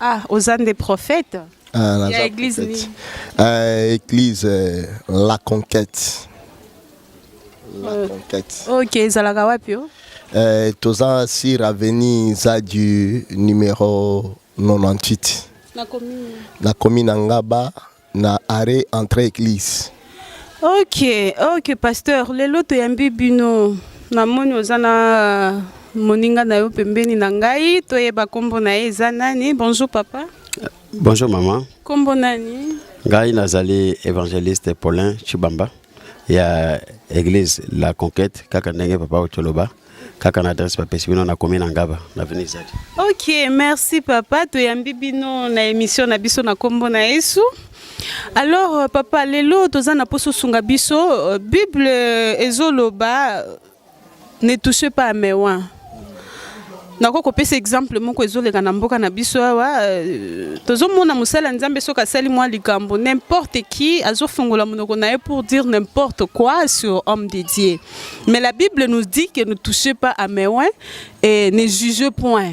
Ah, oza nde prophète ah, naza ya église prophète. nini Euh, église euh, la conquête la Euh. conquête ok ezalaka wapi o euh, toza sur avenue zadu numéro 98 na commune na commune ya ngaba na arrêt entre église. Ok, ok pasteur, lelo toyambi bino. Namoni oza na euh, moninga na yo pembeni na ngai, toyeba kombo na ye eza nani? Bonjour papa. Bonjour maman. Kombo nani? Ngai nazali evangeliste Paulin Chibamba. ya eglise la conquête kaka ndenge papa otoloba kaka na adresse bapesi bino nakomi na ngaba na veni izali ok merci papa toyambi bino na émission na biso na nkombo na yesu alors euh, papa lelo toza na mposa osunga biso euh, bible ezoloba Ne touchez pas à mes oins. nakoki kopesa exemple moko ezoleka na mboka na biso awa euh, tozomona mosali ya nzambe soki asali mwa likambo n'importe qui azofungola monoko na ye pour dire n'importe quoi sur homme de dieu mais la bible nous dit que ne touchez pas à mes oins et ne jugez point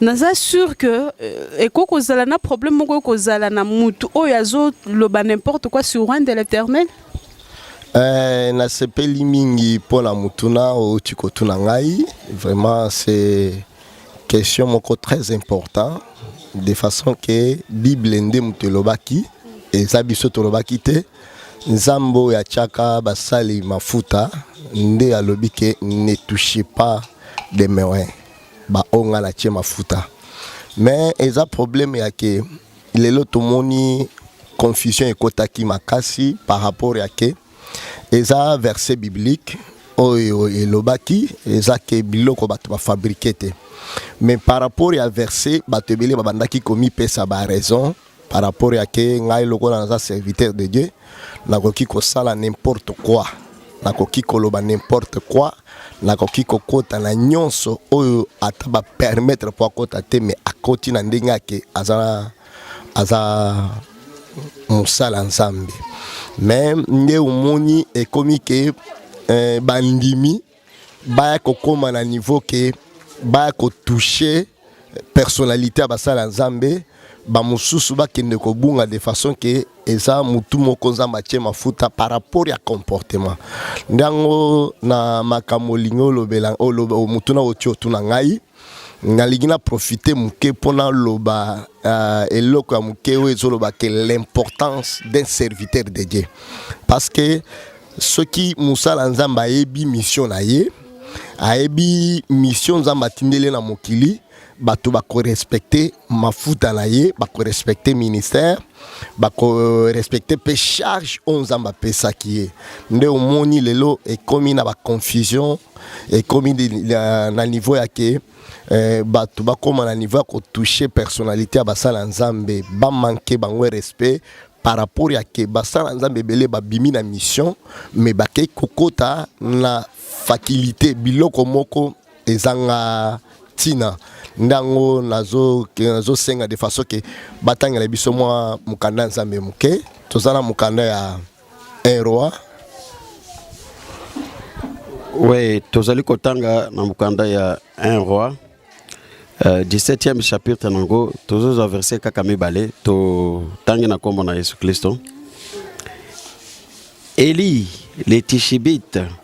naza sur que euh, ekoki kozala na problème moko oyo kozala na mutu oyo azoloba n'importe quoi sur rwanda l'éternel eh, nasepeli mingi mpo na motuna outi kotuna ngai vraiment c'est question moko très important de façon que bible nde moto elobaki eza biso tolobaki te Nzambe oyo atiaka basali mafuta nde alobi ke ne touche pas de merin baoyo ngai natie mafuta mais eza problème ya ke lelo tomoni confusion ekotaki makasi par rapport ya ke eza verset biblique oyo elobaki eza ke biloko bato bafabrike te mais par rapport ya verset bato ebele babandaki komipesa baraison par rapport ya ke ngai lokola naza serviteur de Dieu nakoki kosala n'importe quoi nakoki koloba n'importe quoi nakoki kokota na nyonso oyo ata ba permettre po akota te mais akoti na ndenge ake aza aza mosala nzambe mais nde omoni ekomi ke eh, bandimi baya kokoma na niveau ke baya kotouche personnalité ya basala nzambe bamosusu bakende kobunga de façon ke eza motu moko nzambe atie mafuta par rapport ya comportement nde yango na makambo olingi olobela motuna otie otuna ngai nalingi na profite moke mpo naloba uh, eloko ya moke oyo ezoloba ke l'importance d'un serviteur de dieu parce que soki mosala nzambe ayebi mission na ye ayebi mission nzambe atindeli na mokili bato bakorespecte mafuta na ye bakorespecte ministère respecter pe charge oyo nzambe apesaki ye nde omoni lelo ekomi na baconfusion ekomi na niveau ya ke eh, bato bakóma na niveau ya kotouche personnalité ya basala ya nzambe bamanke bango respect par rapport ya ke basala nzambe ebele babimi na mission me bakei kokota na faculté biloko moko ezanga ntina nde yango nazosenga de façon ke batangela biso mwa mokanda ya nzambe moke toza na mokanda ya un roi oui tozali kotanga na mokanda ya un roi uh, eh, 17e chapitre na yango tozozwa verset kaka mibale totangi na nkombo na yesu kristo eli le tishibite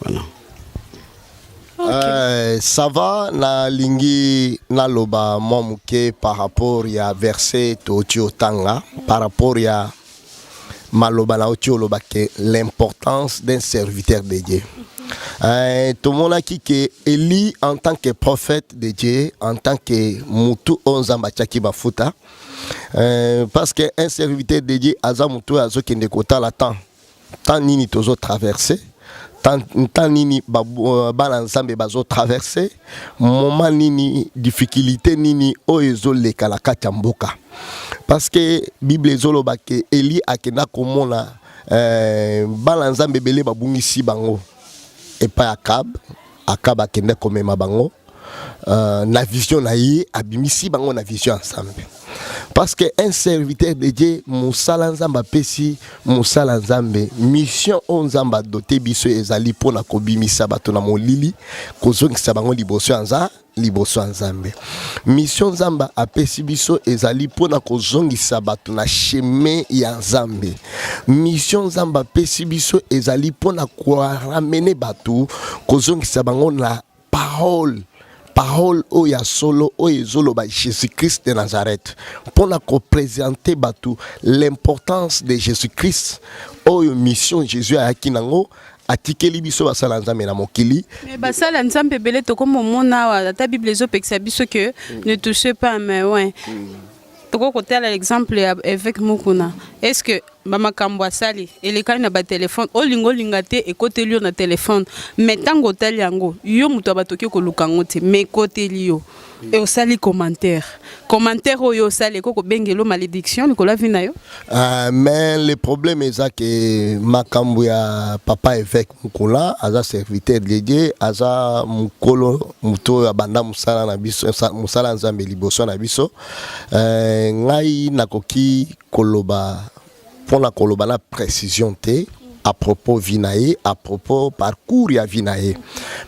Voilà. Okay. Euh, ça va na lingi na loba mwa moke par rapport ya verset toti otanga par rapport ya maloba na oti oloba ke l'importance d'un serviteur de Dieu. Mm -hmm. Euh, tomonaki ke eli en tant que prophète de dieu en tant que mutu oyo nzambe atiaki bafuta euh, parce que un serviteur de dieu aza mutu oyo azokende kotala temps temps nini tozo traverser temps nini euh, bana nzambe bazo traverser moment nini difficulté nini oyo ezoleka na kati ya mboka parce que bible ezoloba ke eli akenda komona euh, bana nzambe ebele babungisi bango epai ya kabe Akaba akende komema bango euh, na vision na ye abimisi bango na vision ya Nzambe parce que un serviteur de Dieu mosala Nzambe apesi mosala Nzambe mission oyo Nzambe adote biso ezali mpo na kobimisa bato na molili kozongisa bango liboso ya Nzambe liboso ya nzambe mission nzambe apesi biso ezali mpo na kozongisa bato na chemin ya nzambe mission nzambe apesi biso ezali mpo na koramene bato kozongisa bango na parole parole oyo ya solo oyo ezoloba jésus-christ de nazareth mpo na kopresente bato l'importance de jésus-christ oyo mission jésus ayaki nango atikeli biso basala nzambe na mokili mais basala nzambe ebele tokomomona awa ata bible ezopekisa biso que mm. ne touche pas mais ouais mm. tokoki kotala exemple ya évêque mokuna est ce que bamakambo asali elekani na batelefone olinga olinga te ekoteli yo na telefone mais ntango otali yango yo moto ya bato oke koluka yango te mais ekoteli yo Et au sali commentaire. Commentaire au yo sali koko bengelo malédiction likolo la vie na yo. Ah mais le problème est ça que makambo ya papa évêque Mukola aza serviteur de Dieu, aza mukolo muto ya banda musala na biso, musala nzambe liboso na biso. Euh, ngai nakoki koloba mpo na koloba na precision te à propos vie na ye à propos parcours ya vie na ye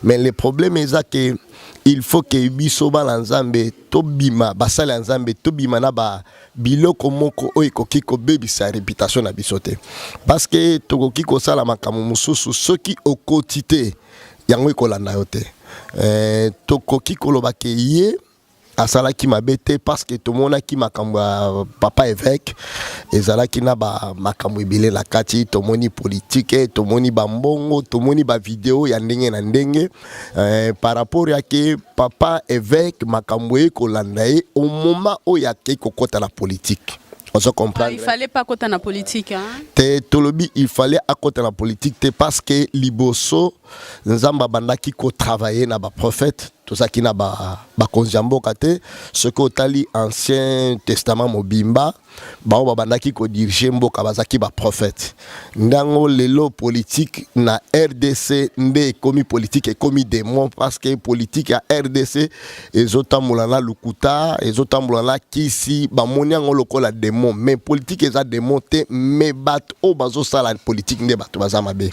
mais le problème eza ke il faut ke biso bana nzambe tobima basali ya nzambe tobima na ba biloko moko oyo ekoki kobebisa reputation na biso te parce que tokoki kosala makambo mosusu soki okoti te yango ekolanda yo te eh, tokoki koloba ke ye asalaki mabe te parce que tomonaki makambo ya papa évêque ezalaki na ba makambo ebele na kati tomoni politike tomoni bambongo tomoni bavideo ya ndenge na ndenge eh, par rapport ya ke papa évêque makambo eye kolanda ye au moment oyo akei kokɔta na politike ozo comprendre ah, il fallait pas kota na politique hein? te tolobi il fallait akota na politique te parce que liboso nzambe abandaki kotravaille na baprofete tozalaki na bakonzi ya mboka te soki otali ancien testament mobimba bango babandaki kodirige mboka bazalaki baprofete ndango lelo politike na rdc nde ekomi politike ekomi demon parce que politike ya rdc ezotambola na lokuta ezotambola na kisi bamoni yango lokola demon mais politike eza demon te mais bato oyo bazosala politike nde bato baza mabe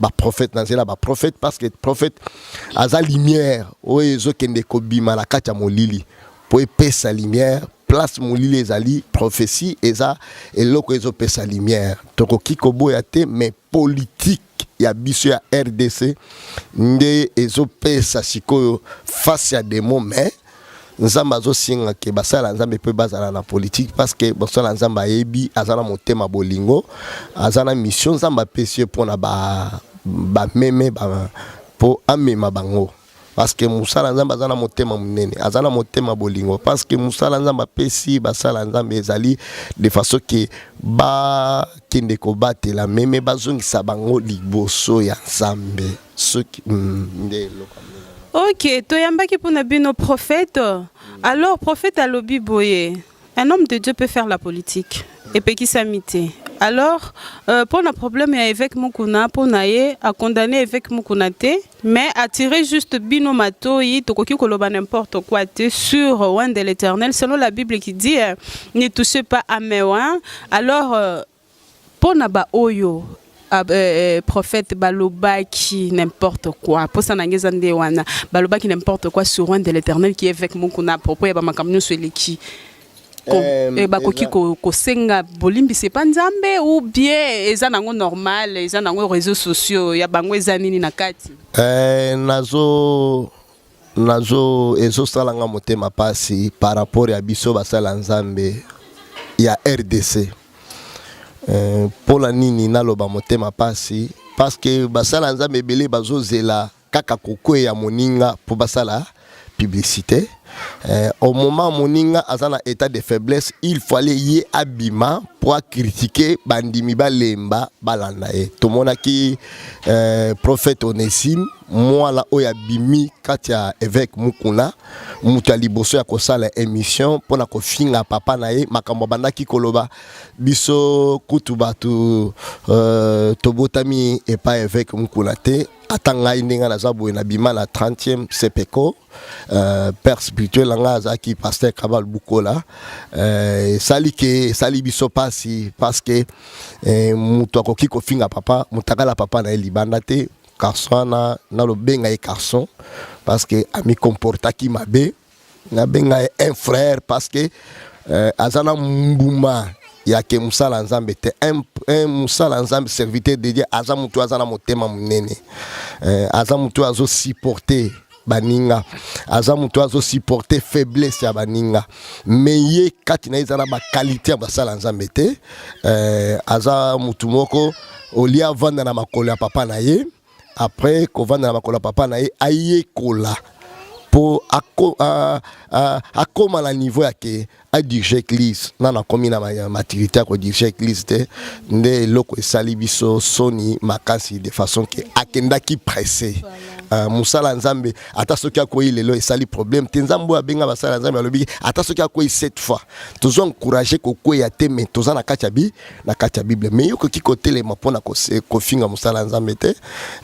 ba prophète na zela ba prophète parce que prophète aza lumière oyo ezokende kobima na kati ya molili mpo epesa lumière place molili ezali prophetie eza eloko ezopesa lumière tokoki koboya te mais politique ya biso ya rdc nde ezopesa sikoyo face ya demo mais nzambe azosenga ke basala nzambe mpe bazala na politike parceke basala nzambe ayebi aza na motema bolingo aza na mission nzambe apesi ye mpona bameme ba ba, mpo amema bango parceke mosala nzambe aza na motema monene aza na motema bolingo parceke mosala nzambe apesi basala nzambe ezali de façon ke bakende kobatela meme bazongisa bango liboso ya nzambe soki mm, nde eloko ok toyambaki mpo na bino prophète alors prophète alobi boye un homme de dieu peut faire la politique epekisami te alors euh, mpo na problème ya évêque mokuna mpo na ye acondamne évêque mokuna te mais attirer juste bino matoi tokoki koloba n'importe quoi te sur roi de l'éternel selon la bible qui dit euh, ne touchez pas à mes alors euh, Pona ba oyo Ah, euh, euh, prophète balobaki n'importe quoi posa na ngai eza nde wana balobaki n'importe quoi sur un de l'éternel qui est avec mokuna à propos ya bamakambo nyonso eleki euh, eh, bakoki kosenga bolimbisi epa nzambe ou bien eza nango normal eza nango réseaux sociaux ya bango eza nini na kati eh, nazo nazo ezosala nga motema pasi par rapport ya biso basali ya nzambe ya rdc eh, mpo na nini naloba motema pasi parceke basali ya nzambe ebele bazozela kaka kokweya moninga mpo basala publicité eh, au moment moninga aza na état de faiblesse il fallait ye abima mpo akritike bandimi balemba balanda ye tomonaki eh, prophète onesime mwana oyo abimi kati ya eveke mukuna moto ya liboso ya kosala emission mpo na kofinga papa na ye makambo abandaki koloba biso kutu bato uh, tobotami epai eveke mukuna te ata ngai ndenge naza boye nabima na 30e sepeco uh, eh, père spirituel na ngai azalaki paster kabal bukola uh, esali ke esali biso mpasi parce que uh, moto akoki kofinga papa motakala papa na ye libanda te Carson wana nalobenga ye Carson parce que ami comportaki mabe nabenga ye un frère parce que euh, aza na mbuma ya ke mosala nzambe te mosala nzambe serviteur de dieu aza motu aza na motema monene euh, aza motu azosupporte baninga aza moto azo supporter faiblesse ya baninga mais ye kati na ye eza na bakalite ya basala nzambe te euh, aza motu moko olie avanda na makolo ya papa na ye après kovanda na makolo ya papa na ye ayekola mpo akoma na niveau ya ke a dirige église na nakomi na maturité ya kodirige église te nde eloko esali biso soni makasi de façon ke akendaki presse uh, mosala ya nzambe ata soki akwei lelo esali problème te nzambe oyo abenga basala ya nzambe alobi ata soki akwei cette fois tozo encourage kokweya te mais toza na kati ya bi na kati ya bible me yokoki kotelema mpo na kofinga mosala ya nzambe te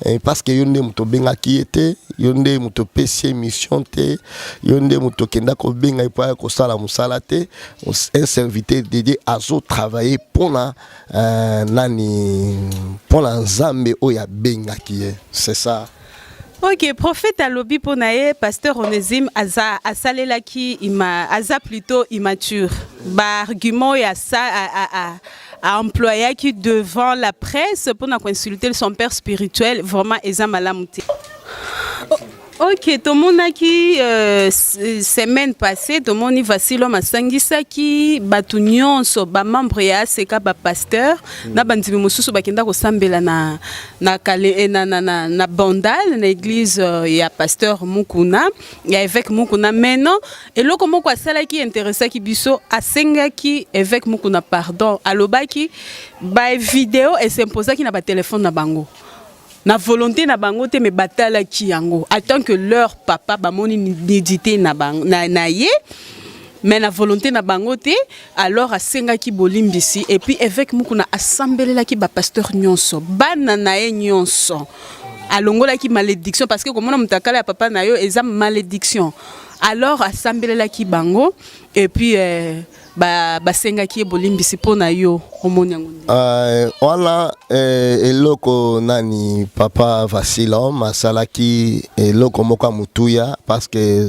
eh, parceke yo nde moto obengaki ye te yo nde moto opesi ye mission te yo nde moto okenda kobenga ye mpo aya kosala mosala te un serviteur dedie azotravaille mpo na eh, nani mpo na nzambe oyo abengaki ye c'est ça Ok, prophète alobi mpo na ye pasteur Onésime aza asalelaki ima aza plutôt immature baargument ya sa a, a, a, a employaki devant la presse mpo na koinsulte son père spirituel vraiment eza malamu te oh. Ok, tomonaki euh, semaine passée tomoni Vasilo masangisaki bato nyonso ba membre ya ACK ba pasteur mm. na bandimi mosusu bakenda kosambela na na kale eh, na na na, na bandal na église euh, ya pasteur Mukuna ya évêque Mukuna mais non eloko moko asalaki interessaki biso asengaki évêque Mukuna pardon alobaki ba vidéo et s'imposaki na ba téléphone na bango na volonté na bango te mais batalaki yango en tant que leur papa bamoni nidité na, na, na ye mais na volonté na bango te Alors asengaki bolimbisi et puis évêque Mukuna asambelelaki ba pasteurs nyonso bana na ye nyonso alongolaki malédiction parce que komona mutakala ya papa na yo eza malédiction alors asambelelaki bango et puis euh, basengaki ye bolimbisi mpo na yo omoni yango euh, wana euh, eloko nani papa vasilom asalaki eloko moko ya motuya parce que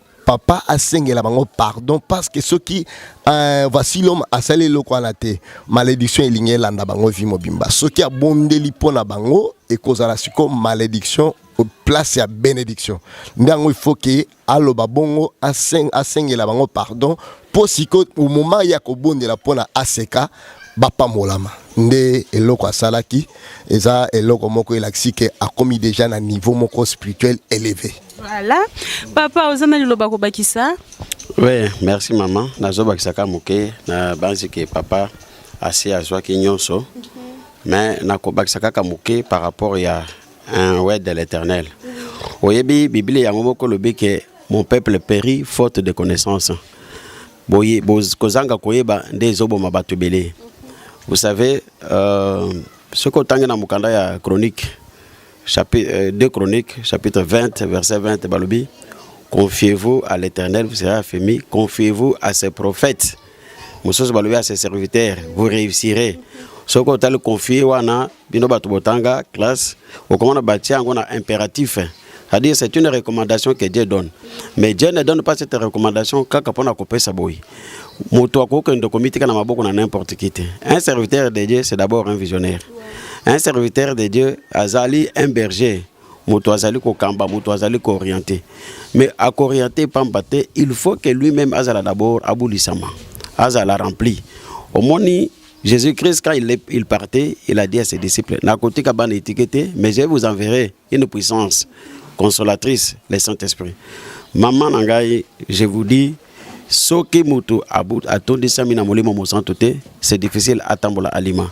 papa asengela bango pardon parce que soki euh, voici l'homme asali eloko wana te malédiction elingi elanda bango vie mobimba soki abondeli mpo na bango ekozala siko malédiction place ya bénédiction nde yango il faut ke aloba bongo asengela bango pardon mpo siko omoma ye akobondela mpo na aseka bapambolama nde eloko asalaki eza eloko moko elakisi ke akomi deja na niveau moko spirituel eleve voilà papa oza na liloba kobakisa oui merci mama nazobakisaka moke na banzi ke papa asi azwaki nyonso mhm. mais nakobakisa kaka moke par rapport ya un word de l'éternel mhm. oyebi biblia yango moko lobi ke Mon peuple périt faute de connaissance. Boye, boz, kozanga koyeba nde ezoboma bato ebele. Vous savez, euh, soki otangi na mokanda ya chronique chapitre, euh, deux chroniques chapitre 20 verset 20 balobi confiez-vous à l'éternel vous serez affermi confiez-vous à ses prophètes mosusu balobi ya ses serviteurs vous réussirez soki otali confie wana bino bato botanga classe okomona batia yango na impératif c'est-à-dire c'est une recommandation que Dieu donne mais Dieu ne donne pas cette recommandation kaka mpo na kopesa boye moto akoki kokende komitika na maboko na n'importe qui te un serviteur de Dieu c'est d'abord un visionnaire un serviteur de Dieu azali un berger moto azali kokamba moto azali kooriente mais akoriente pamba te il faut que lui-même azala d'abord abulisama azala rempli omoni Jésus-Christ, quand il, il, partait, il a dit à ses disciples, Nakotika ban étiqueté, mais je vous enverrai une puissance consolatrice, le Saint-Esprit. Maman Nangai, je vous dis, soki mutu atondisami na molimo mosantu te c'est difficile atambola alima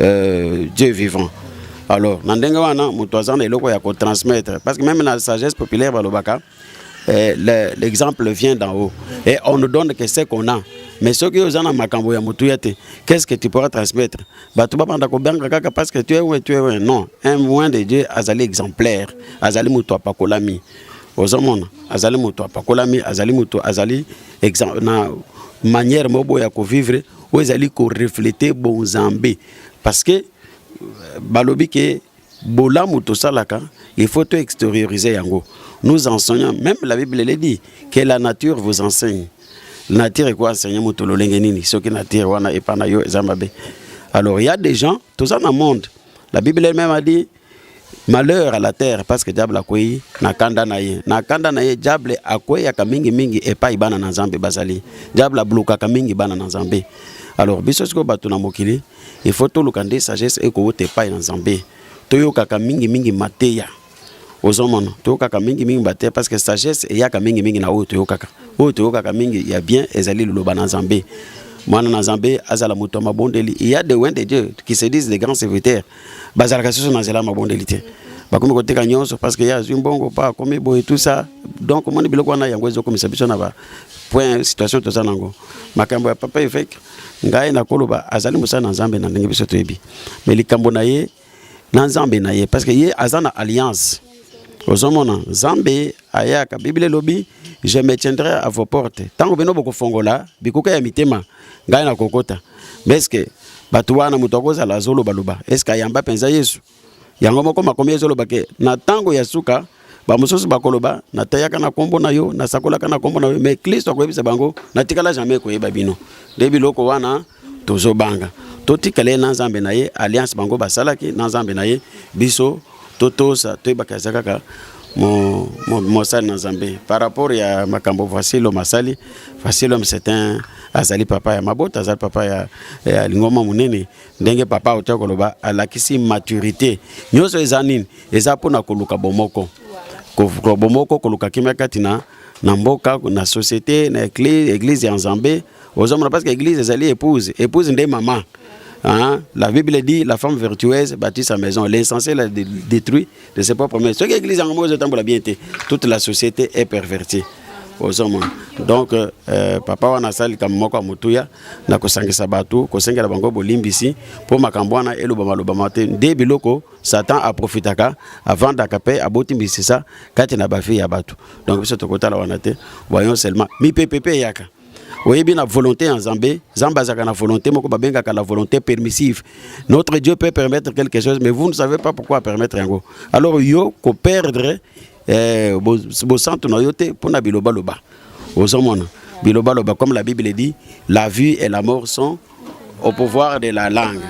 euh, Dieu vivant alors na ndenge wana moto aza na eloko ya kotransmettre parce que même na sagesse populaire balobaka eh, l'exemple vient d'en haut et on ne donne que ce qu'on a mais soki oza na makambo ya motuya te qu'est-ce que tu pourras transmettre bato babanda kobanga kaka parce que tu es we tu es we non un moin de dieu azali exemplaire azali moto apakolami ozomona azali moto apakolami azali moto azali na manière moko ya kovivre oyo ezali koreflete bonzambe parce que euh, balobi ke bolamu tosalaka il faut to extériorise yango nous enseignons même la bible le dit que la nature vous enseigne nature ekoenseigne moto lolenge nini soki nature wana epa na yo eza mabe alors il y a des gens toza na monde la bible elle-même a dit malheur à la terre parce que diable akwei na kanda na ye na kanda na ye diable akweyaka mingimingi epai bana na nzambe bazali diable ablokaka mingi bana na nzambe alors biso sikoyo bato na mokili il faut toluka nde sagesse ekowuta epai na nzambe toyokaka mingimingi mateya ozomona toyokaka mingimingi mateya parce que sagesse eyaka mingimingi na oyo toyokaka oyo toyokaka mingi ya bien ezali liloba na nzambe mwana na nzambe azala moto ya mabondeli il y a de wende dieu qui se disent des grands serviteurs bazalaka susu na nzela ya mabondeli te bakomi koteka nyonso parce que ye azwi mbongo mpo akomi boye tout ça donc omoni biloko wana yango ezokomisa biso na ba point situation toza na yango makambo ya papa eveke ngai nakoloba azali mosala na nzambe na ndenge biso toyebi me likambo na ye na nzambe na ye parce que ye aza na alliance ozomona nzambe ayaka biblia elobi je me tiendrai à vos portes ntango bino bokofongola bikuka ya mitema ngai nakokota meske bato wana moto akozala azolobaloba eske ayamba mpenza yesu yango moko makomi ezoloba ke na ntango ya suka bamosusu bakoloba nateyaka na nkombo na yo nasakolaka na nkombo na yo me klisto akoyebisa bango natikala jamai koyeba bino nde biloko wana tozobanga totikala ye na nzambe na ye alliance bango basalaki na nzambe na ye biso totosa toyebaka eza kaka mosali na nzambe par rapport ya makambo vasilo masali vasilo c'est un azali papa ya mabota azali papa ya, ya lingoma monene ndenge papa auta koloba alakisi maturité nyonso eza nini eza mpona koluka bomoko koluka bomoko koluka kimia kati na, na mboka na société na eglise, eglise ya nzambe ozomona parce que église ezali épouse épouse nde mama Hein? La Bible dit la femme vertueuse bâtit sa maison. L'insensé la détruit de ses propres mains. Ce que l'église en mot de bien été, toute la société est pervertie. ozomon donc euh, euh, papa wana asali kambo moko ya motuya na kosangisa bato kosengela bango bolimbisi mpo makambo wana elobama lobama te nde biloko satan aprofitaka avandaka mpe aboti misisa kati na bafi ya bato donc biso tokotala wana te voyons seulement mipepe mpe eyaka oyebi na volonté ya nzambe nzambe azalaka na volonté moko babengaka la volonté permissive notre dieu peut permettre quelque chose mais vous ne savez pas pourquoi permettre yango alors yo koperdre eh, bosantu na yo te mpo na bilobaloba ozomona bilobaloba comme la bible dit la vie et la mort sont au pouvoir de la langue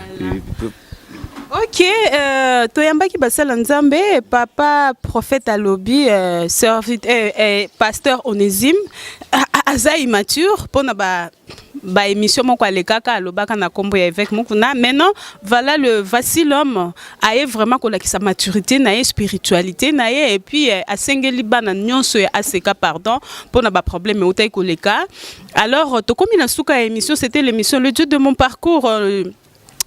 ok euh, toyambaki basala nzambe papa prophète alobi euh, servite, euh, euh, pasteur onésime aza immature mpo na ba baémission moko alekaka alobaka na nkombo ya évêque mokuna maintenant voilà le voici l'homme aye vraiment kolakisa maturité na ye spiritualité na ye epuis euh, asengeli bana nyonso ya aseka pardon mpo na baproblème eutaki koleka Alors, tokomi na suka ya émission, c'était l'émission Le Dieu de mon parcours. Euh,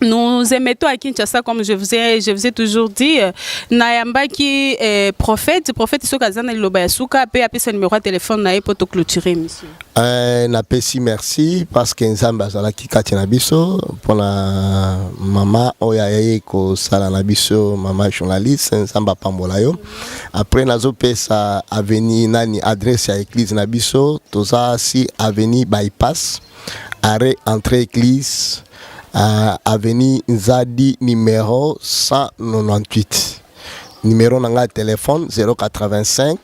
nous émettons à Kinshasa, comme je vous ai, je vous ai toujours dit, euh, Nayamba qui est prophète, prophète Sokazana Lobayasuka, puis appeler son numéro de téléphone nae pour te clôturer, monsieur. Euh, na pesi merci parce que Nzamba azala ki kati na biso pour la maman oya yeye ko sala na biso maman journaliste Nzamba pambola yo. après nazopesa avenue nani adresse ya église na biso toza si avenue bypass arrêt entrée église uh, avenue nzadi numéro 198 numéro na ngai ya telefone 085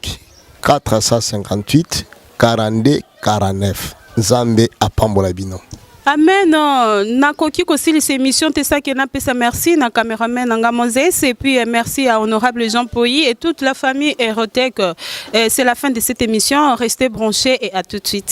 458 42 49 nzambe apambola bino Amen. Oh, na koki ko sili cette émission te ça que na pesa merci na cameraman na nga Moses et puis euh, merci à honorable Jean Poyi et toute la famille Erotech. Euh, c'est la fin de cette émission. Restez branchés et à tout de suite.